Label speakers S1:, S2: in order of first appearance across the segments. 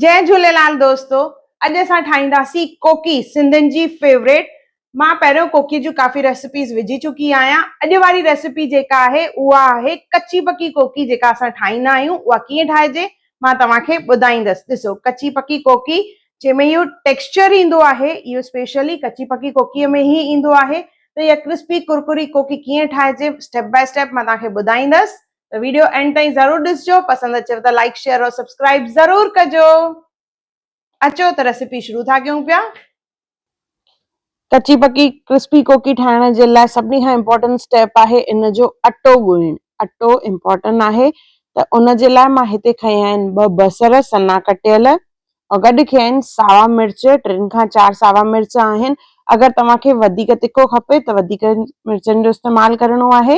S1: جئي جهوليلال دوستو اڄ اسان ٺاهيندا سي ڪوڪي سنڌين جي فيوريٽ مان پهريون ڪوڪي جون ڪافي ريسيپيز وجهي چڪي آهيان اڄ واري ريسيپي جيڪا آهي اها آهي ڪچي پڪي ڪوڪي جيڪا اسان ٺاهيندا آهيون اها ڪيئن ٺاهجي مان توهان کي ٻڌائيندس ڏسو ڪچي پڪي ڪوڪي جنهن ۾ اهو ٽيڪسچر ايندو آهي اهو اسپيشلي ڪچي پڪي ڪوڪي ۾ هي ايندو آهي ته اها ڪرسپي ڪرڪري ڪوڪي ڪيئن ٺاهجي اسٽيپ باء اسٽيپ مان توهان کي ٻڌائيندس ته ويڊيو اينڊ تائين ضرور ڏسجو پسند اچيو ته لائڪ شيئر اور سبسڪرائب ضرور ڪجو اچو ته ريسيپي شروع ٿا ڪيون پيا ڪچي پڪي ڪرسپي ڪوڪي ٺاهڻ جي لاء سڀني کان امپورٽنٽ اسٽيپ آهي ان جو اٽو ڳوئڻ اٽو امپورٽنٽ آهي ته ان جي لاء مان هتي کيا آهن ٻه بصر سنا ڪٽيل او گڏ کيا آهن ساوا مرچ ٽن کان چار ساوا مرچ آهن اگر توهان کي وڌيڪ تکو کپي ته وڌيڪ مرچن جو استعمال ڪرڻو آهي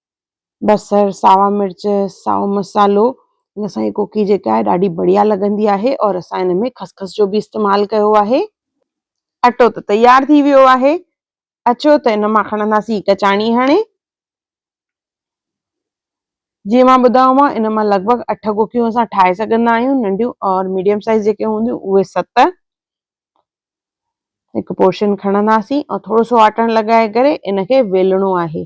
S1: بصر ساوا مرچ سائو مصالحو ان سان هي ڪوڪي جيڪا آهي ڏاڍي بڙيا لڳندي آهي اور اسان ان ۾ خسخس جو به استعمال ڪيو آهي اٽو ته تيار ٿي ويو آهي اچو ته ان مان کڻنداسي هڪ چاڻي هڻي جي مان ٻڌايو مان ان مان لڳ ڀڳ اٺ ڪوڪيون اسان ٺاهي سگهندا آهيون ننڍيون اور ميڊيم سائز جيڪي هونديون اهي ست هڪ پورشن کڻنداسي اور ٿورو سو آٽڻ لڳائي ڪري ان کي ويلڻو آهي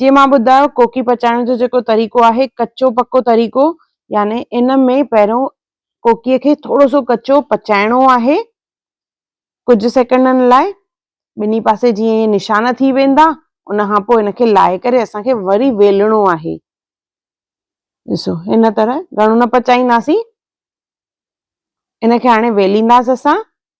S1: جيئن مان ٻڌايو ڪوڪي پچائڻ جو جيڪو طريقو آهي ڪچو پڪو طريقو يعني ان ۾ پهريون ڪوڪيء کي ٿورو سو ڪچو پچائڻو آهي ڪجهه سيڪنڊن لاء ٻنهي پاسي جيئن هي نشان ٿي ويندا ان کان پوء ان کي لائي ڪري اسان کي وري ويلڻو آهي ڏسو هن طرح گهڻو نه پچائينداسين ان کي هاڻي ويلينداسي اسان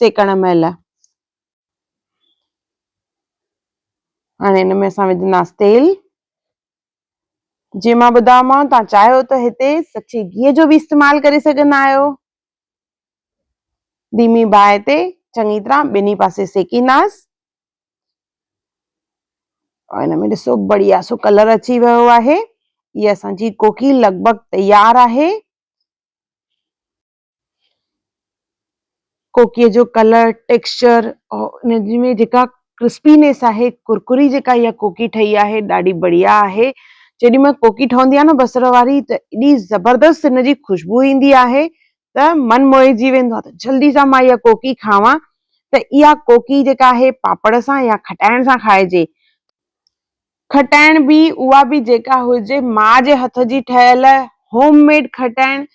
S1: سيڪڻ مهل هاڻي ان ۾ اسان وجهنداسين تيل جي مان ٻڌايومانو تان چاهيو ته هتي سچي گيهه جو به استعمال ڪري سگهندا آهيو ڌيمي باهه تي چڱي طرح ٻنهي پاسي سيڪينداس ان ۾ ڏسو بڙيا سو ڪلر اچي ويو آهي هي اسان جي ڪوڪي لڳ ڀڳ تيار آهي ڪوڪيء جو ڪلر، ٽيڪسچر ۽ ان ۾ جيڪا ڪرسپينيس آهي، ڪرڪري جيڪا اها ڪوڪي ٺهي آهي ڏاڍي بڙيا آهي. جيڏي مهل ڪوڪي ٺهندي آهي نه بصر واري ته ايڏي زبردست ان جي خوشبو ايندي آهي ته من موهجي ويندو آهي ته جلدي سان مان اها ڪوڪي کاوان ته اها ڪوڪي جيڪا آهي پاپڙ سان يا کٽائڻ سان کائجي. کٽائڻ به اها به جيڪا هجي ماء جي هٿ جي ٺهيل هوم ميڊ کٽائڻ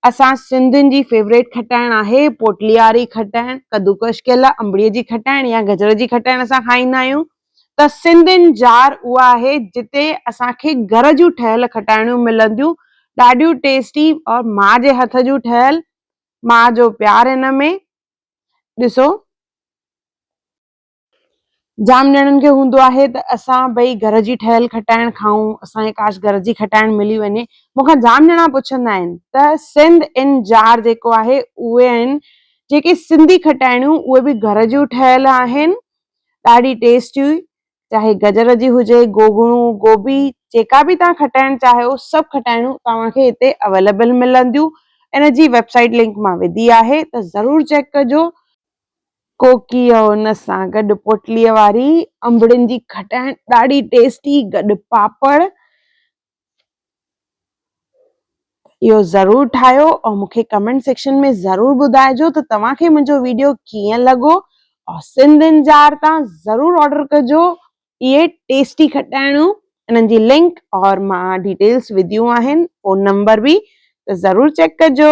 S1: اسان سنڌين جي فيوريٽ کٽائڻ آهي پوٽلي واري کٽائڻ ڪدوڪش ڪيل انبڙي جي کٽائڻ يا گجر جي کٽائڻ اسان کائيندا آهيون ته سنڌين جار اها آهي جتي اسان کي گهر جون ٺهيل کٽائڻيون ملنديون ڏاڍيون ٽيسٽي اور ماء جي هٿ جون ٺهيل ماء جو پيار هن ۾ ڏسو جام ڄڻن کي هوندو آهي ته اسان ٻئي گهر جي ٺهيل کٽائڻ کائون، اسان کي ڪاش گهر جي کٽائڻ ملي وڃي. مون کان جام ڄڻا پڇندا آهن ته سنڌ ان جار جيڪو آهي اهي آهن جيڪي سنڌي کٽائڻيون اهي به گهر جون ٺهيل آهن ڏاڍي ٽيسٽي چاهي گجر جي هجي، گوگڻو، گوبي جيڪا به توهان کٽائڻ چاهيو سڀ کٽائڻيون توهان کي هتي اويليبل ملنديون ان جي ويب سائيٽ لنڪ مان وڌي آهي ته ضرور چيڪ ڪجو. ڪوڪيء ان سان گڏ پوٽليء واري انبڙين جي کٽائڻ ڏاڍي ٽيسٽي، گڏ پاپڙ. اهو ضرور ٺاهيو ۽ مون کي ڪمينٽ سيڪشن ۾ ضرور ٻڌائجو ته توهان کي منهنجو ويڊيو ڪيئن لڳو ۽ سنڌ ان جار تان ضرور آرڊر ڪجو اهي ٽيسٽي کٽائڻون انهن جي لنڪ اور مان ڊيٽيلس وڌيون آهن فون نمبر به ته ضرور چيڪ ڪجو.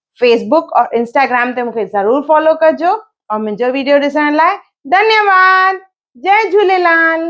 S1: فيس بوڪ اور انسٽاگرام تي مونکي ضرور فالو ڪجو اور منهنجو ويڊيو ڏسڻ لاء ڌنيواد جي جهوليلال